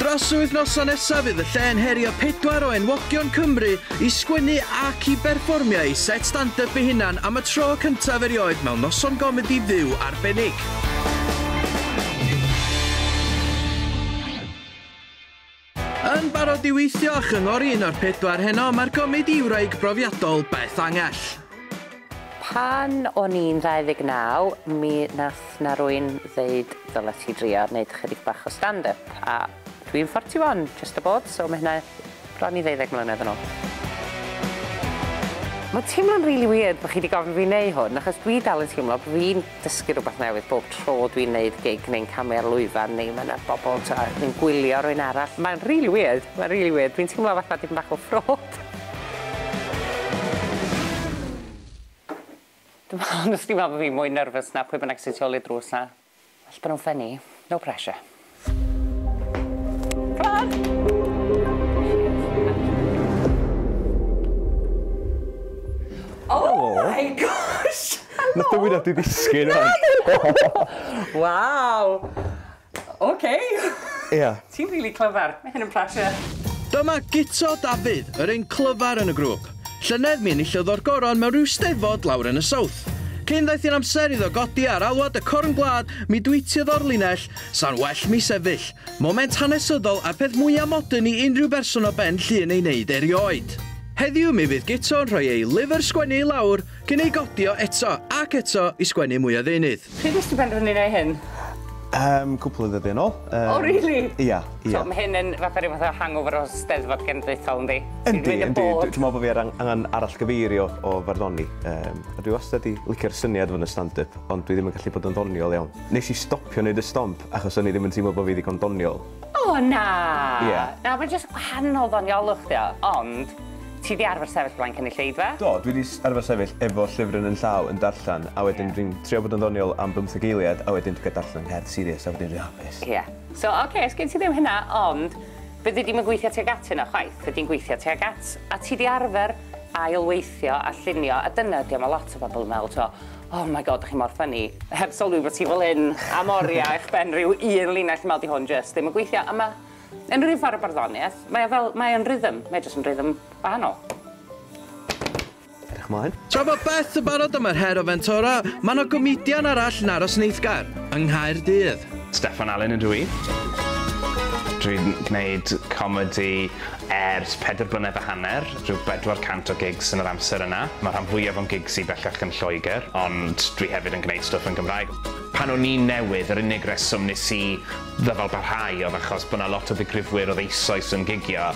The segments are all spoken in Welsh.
Dros y wythnosau nesaf fydd y lle yn herio pedwar o enwogion Cymru i sgwennu ac i berfformio eu set stand-up eu hunan am y tro cyntaf erioed mewn noson gomedi fyw arbennig. Yn barod i weithio a chyngor un o'r pedwar heno, mae'r gomedi wraig brofiadol, Beth Angell. Pan o'n i'n 29 mi nath 'na rwyn ddeud ddylet ti drio neud ychydig bach o stand up a dwi'n 41 just aboard so ma' hynna bron i ddeuddeg mlynedd yn ôl. Ma'n teimlo'n rili wierd bo' chi 'di gofyn fi neu hwn achos dwi dal yn teimlo bo' fi'n dysgu rwbath newydd bob tro dwi'n neud gig neu'n camu ar lwyfan neu ma' 'na bobol t'o' yn gwylio rywun arall. Mae'n rili weird, mae'n rili weird. Dwi'n teimlo fatha dipyn bach o fraud. Dwi'm yn onestly me'wl bo' fi mwy nyrfys na pwy bynnag sy tu ôl i'r drws 'na. Well bo' nw'n ffyni. No pressure. na dwi ddisgyn o'n. Waw! Oce. Ia. Ti'n rili clyfar. Mae hyn yn pressure. Dyma Guto Dafydd, yr un clyfar yn y grŵp. Llynedd mi enillodd o'r goron mewn rhyw stefod lawr yn y South. Cyn ddaeth i'n amser iddo godi ar alwad y corn gwlad, mi dwytiodd o'r linell 'Sa'n well mi sefyll. Moment hanesyddol a'r peth mwya' modern i unrhyw berson o ben Llŷn ei wneud erioed. Heddiw mi fydd Guto yn rhoi ei lyfr sgwennu i lawr cyn ei godi o eto ac eto i sgwennu mwy o ddeunydd. Pryd nes ti benderfynu neu' hyn? Yym cwpl o ddyddia' nôl yym. O rili? Ia ia. So ma' hyn yn fatha ryw fath o hangover o Steddfod Genedlaethol yndi? Yndi yndi dwi dwi me'wl bo' fi ar ang- angan arallgyfeirio o farddoni yym a dwi wastad 'di licio'r syniad o fod yn stand up ond dwi ddim yn gallu bod yn ddoniol iawn. Nes i stopio neud y stomp achos o'n i ddim yn teimlo bo fi ddigon doniol. O na! Ie. Na mae'n jyst gwahanol ddoniolwch dio, ond ti di arfer sefyll flaen cynulleidfa? Do, dwi di arfer sefyll efo llyfr yn yn llaw yn darllen a wedyn dwi'n trio bod yn ddoniol am bymtheg eiliad a wedyn dwi'n ga darllen cerdd serious a wedyn dwi'n hapus. Ie. So oce, sgin ti ddim hynna, ond fyddi di'm yn gweithio tuag at hynna chwaith, fyddi'n gweithio tuag at, a ti di arfer ail weithio a llunio a dyna ydi o, ma lot o bobl yn meddwl t'mo, Oh my God, dych chi mor funny. Heb sylwi bod ti fel hyn am oriau eich ben rhyw un linell mal di hwn jyst ddim yn gweithio. A mae yn rhyw ffordd o barddoniaeth. Mae o fel, mae o'n rhythm. Mae jyst yn rhythm wahanol. Edrych mlaen. Tra bod Beth yn barod am yr her o fentora, mae yna gomedian arall yn aros yn eiddgar, yng Nghaerdydd. Steffan Alun ydw i. Dwi'n gwneud comedi ers pedair blynedd a hanner. rhyw bedwar cant o gigs yn yr amser yna. Mae'r rhan fwyaf o'n gigs i bellach yn Lloegr, ond dwi hefyd yn gwneud stwff yn Gymraeg. Pan o'n i'n newydd, yr unig reswm nes i ddyfalbarhau oedd achos bod 'na lot o ddigrifwyr oedd eisoes yn gigio.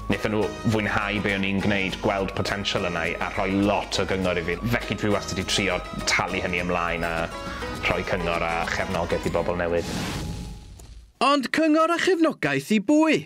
Wnaethon nhw fwynhau be o'n i'n gwneud, gweld potensial yna i, a rhoi lot o gyngor i fi. Felly dwi wastad 'di trio talu hynny ymlaen a rhoi cyngor a chefnogaeth i bobl newydd. Ond cyngor a chefnogaeth i bwy?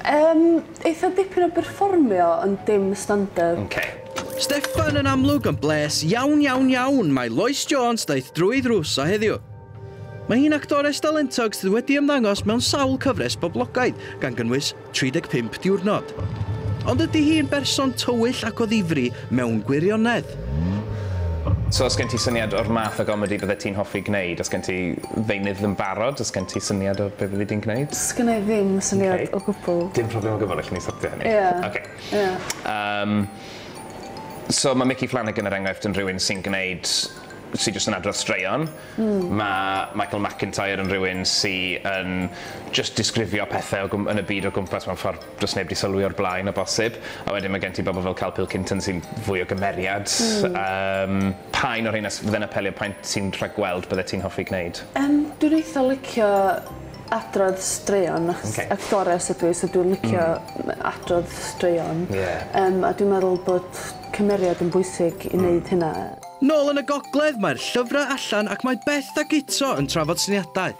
Yym, eitha dipyn o berfformio ond dim stand-up. Oce. Steffan yn amlwg yn blês iawn iawn iawn mae Lois Jones ddaeth drwy ddrws o heddiw. Mae hi'n actores dalentog sydd wedi ymddangos mewn sawl cyfres boblogaidd gan gynnwys 35 Diwrnod. Ond ydy hi'n berson tywyll ac o ddifri mewn gwirionedd? So os gen ti syniad o'r math o gomedi byddet ti'n hoffi gneud? Os gen ti ddeunydd yn barod? Os gen ti syniad o be' fyddi di'n gneud? Sgynna i ddim syniad... Oce. ...o gwbwl. Dim problem o gwbwl, allen ni sortio hynny. Ie. Oce. Ie. Yym so ma' Micky Flanagan er enghraifft yn rhywun sy'n gneud sy jyst yn adrodd straeon. Hmm. Ma' Michael McIntyre yn rhywun sy yn jyst disgrifio pethe o gwm- yn y byd o gwmpas mewn ffor does neb 'di sylwi o'r blaen o bosib, a wedyn ma' gen ti bobl fel Carl Pilkington sy'n fwy o gymeriad. Hmm. Yym pa un o rheina s- fydde'n apelio, pa un ti'n rhagweld byddet ti'n hoffi gneud? Yym dwi'n eitha licio adrodd straeon achos Oce. actores ydw i so dwi'n licio... Hmm. ...m- adrodd straeon. Ie. Yym a dwi'n meddwl bod cymeriad yn bwysig i neud... Hmm. ...hynna. Nôl yn y gogledd, mae'r llyfrau allan ac mae Beth a Guto yn trafod syniadau.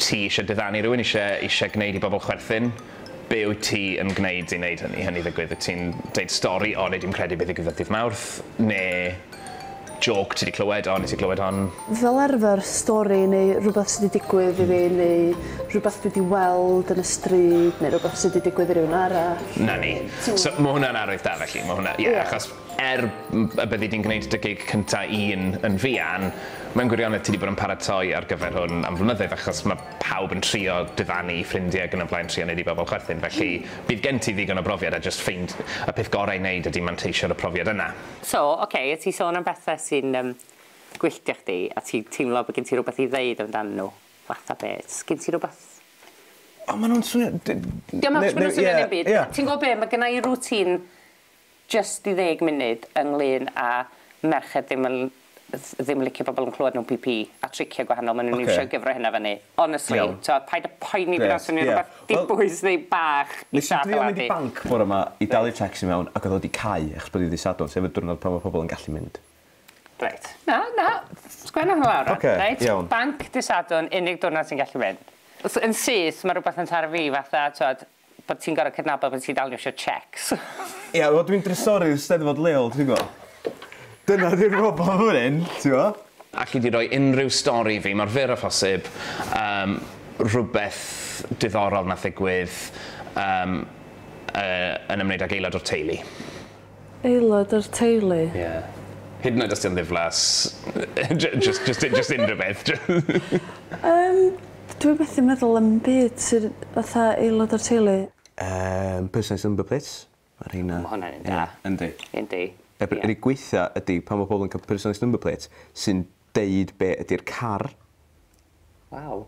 Ti eisiau diddanu rhywun, eisiau, eisiau gwneud i bobl chwerthin, be wyt ti yn gwneud i wneud hynny, hynny ddigwydd? Wyt ti'n deud stori, 'O, wnei di'm credu be ddigwyddodd ddydd Mawrth', neu jôc ti 'di clywed, 'O, wnei ti glywed hon? Fel arfer, stori neu rhywbeth sy 'di digwydd i fi, neu rhywbeth dwi 'di weld yn y stryd, neu rhywbeth sy 'di digwydd i rhywun arall. 'Na ni. So, ma' hwnna'n arwydd da felly, ma' hwnna, ie, achos, Er y byddi di'n gwneud dy gig cynta un yn fuan, mewn gwirionedd ti 'di bod yn paratoi ar gyfer hwn am flynyddoedd achos ma' pawb yn trio diddanu 'u ffrindie ag yn y blaen trio 'neud i bobl chwerthin felly bydd gen ti ddigon o brofiad a jyst ffeind- y peth gorau i 'neud ydi manteisio ar y profiad yna. So, ocê, o ti sôn am bethe sy'n yym gwylltio chdi a ti'n teimlo bod gen ti rwbeth i ddeud amdanyn nhw, fatha be'? Sgin ti rwbeth? O ma' nhw'n swnio d- n- ne- ne- ie, ie. Ti'n gwbo be', ma' gynna i routine Jyst i ddeg munud ynglŷn â merched ddim yn ddim yn licio pobl yn clywed nhw'n PP a tricie gwahanol maen nhw'n iwsio i gyfro hynna fyny. Honestly, tibod, paid â poeni pan swn i'n rhywbeth dibwys neu bach i siarad am Andy. Nes i drio mynd i banc bore ma i dalu tacsi mewn ac oedd o wedi cau achos bod hi ddydd Sadwrn sef y diwrnod pan mae pobl yn gallu mynd. Reit. Na, na, sgwenna hwnna lawr rwan. Reit, banc dydd Sadwrn, unig diwrnod ti'n gallu mynd. Yn syth, mae rhywbeth yn taro fi fatha, tibod, Bod ti'n gor'o' cydnabod bo' ti'n dal isio checks. Ia wel dwi'n drysorydd Steddfod leol ti'n gwbo. Dyna 'di'r broblem fan hyn t'mo'. Alli di roi unrhyw stori i fi, mor fyr â phosib, yym rhywbeth diddorol nath ddigwydd yym yy yn ymwneud ag aelod o'r teulu. Aelod o'r teulu. Ie. Hyd yn oed os 'di o'n ddiflas. Jy- jyst jyst u- jyst unrhyw beth jy- Yym dwi methu meddwl am 'im byd sydd fatha aelod o'r teulu. Yym personalised number plates ma' rheina... Ma' hwnna'n un da. Ie. Yndi. Yndi. Y pr- yr unig gweitha ydi pan ma' pobol yn ca'l personalised number plate sy'n deud be' ydi'r car Waw.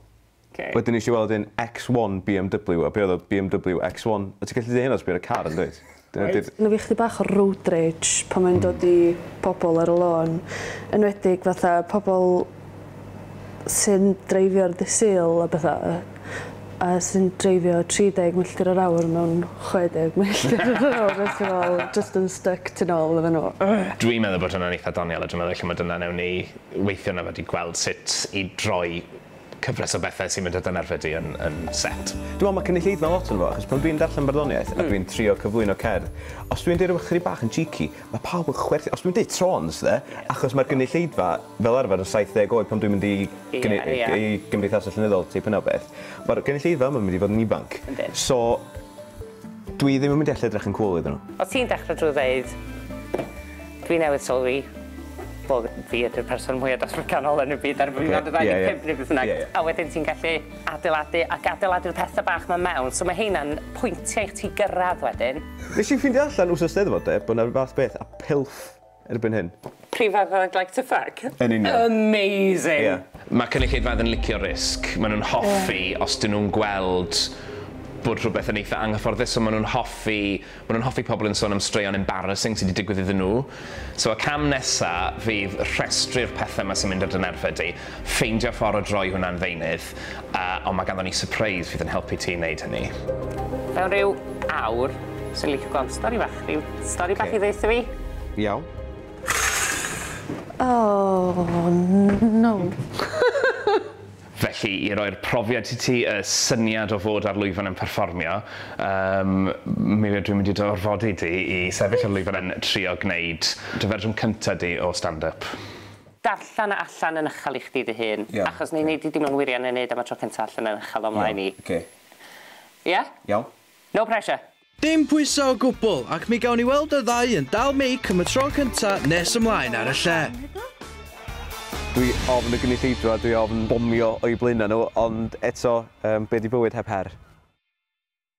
Oce. Wedyn nesh i weld un X1 BMW a be' odd o BMW X1. O' ti gallu deu' hynna os be' ar y car yndwyt? Dyna 'di'r... Ma' 'na fi chydig bach o road rage pan mae'n dod i pobol ar y lôn. Enwedig fatha pobol sy'n dreifio ar dy' Sul a betha a sy'n dreifio 30 milltir yr awr mewn 60 milltir yr awr a ti fel jyst yn styc tu nôl iddyn n'w. Dwi'n meddwl bod hwnna'n eitha doniol a dwi'n meddwl ella ma' dyna newn ni weithio na wedi gweld sut i droi cyfres o bethau sy'n mynd â dy nerfau di yn yn set. Dwi'n meddwl mae cynulleidfa lot yn fo achos pan dwi'n darllen barddoniaeth a dwi'n trio cyflwyno cerdd os dwi'n deud rhywbeth chydig bach yn cheeky mae pawb yn chwerthin os dwi'n deud trôns de achos mae'r gynulleidfa fel arfer yn 70 oed pan dwi'n mynd i gyn- Ie ie. i gymdeithasau llenyddol teip yna o beth mae'r gynulleidfa yma yn mynd i fod yn ifanc Yndi. so dwi ddim yn mynd i allu edrych yn cŵl iddyn nhw. Os ti'n dechre drwy ddeud Dwi newydd sylwi bo' fi ydi'r person mwya datblyganol yn y byd ar fy mhriod ddau ddeg pump ne' beth bynnag. Ie ie. A wedyn ti'n gallu adeiladu ac adeiladu'r pethe bach 'ma mewn so ma' heina'n pwyntie i chdi gyrradd wedyn. Nes i ffindio allan wsos Steddfod 'de bo' 'na ryw fath beth a pilff erbyn hyn. Prif fath o like to fuck? Yn union. Amazing! Ie. Ma' cynulleidfaoedd yn licio risg, ma' nhw'n hoffi os 'dyn nhw'n gweld bod rhywbeth yn eitha' anghyfforddus so ma' nhw'n hoffi Maen nhw'n hoffi pobl yn sôn am straeon embarrassing sy 'di digwydd iddyn nhw. So y cam nesa fydd rhestru'r pethe 'ma sy'n mynd ar dy nerfe di, ffeindio ffor o droi hwnna'n ddeunydd, yy ond ma' ganddon ni sypreis fydd yn helpu ti i neud hynny. Mewn ryw awr, swn licio gweld stori fach, ryw stori bach i ddeutho fi. Iawn. Oh no. Felly, i roi'r profiad i ti, y syniad o fod ar lwyfan yn perfformio, yym, mi ydw i'n mynd i dy orfodi di i sefyll ar lwyfan yn trio gwneud dy fersiwn cynta di o stand-up. Darllen e allan yn uchel i chdi dy hun, achos wna i wneud i dim ond wirio'n ei wneud am y tro cynta allan yn uchel o'm mlaen i. Iawn, oce. Ia? Iawn. No pressure! Dim pwysau o gwbl, ac mi gawn ni weld y ddau yn dal meic am y tro cynta nes ymlaen ar y lle. Dwi ofn y gynulleidfa a dwi ofn bomio o'u blaenau nhw, ond eto, be 'di bywyd heb her?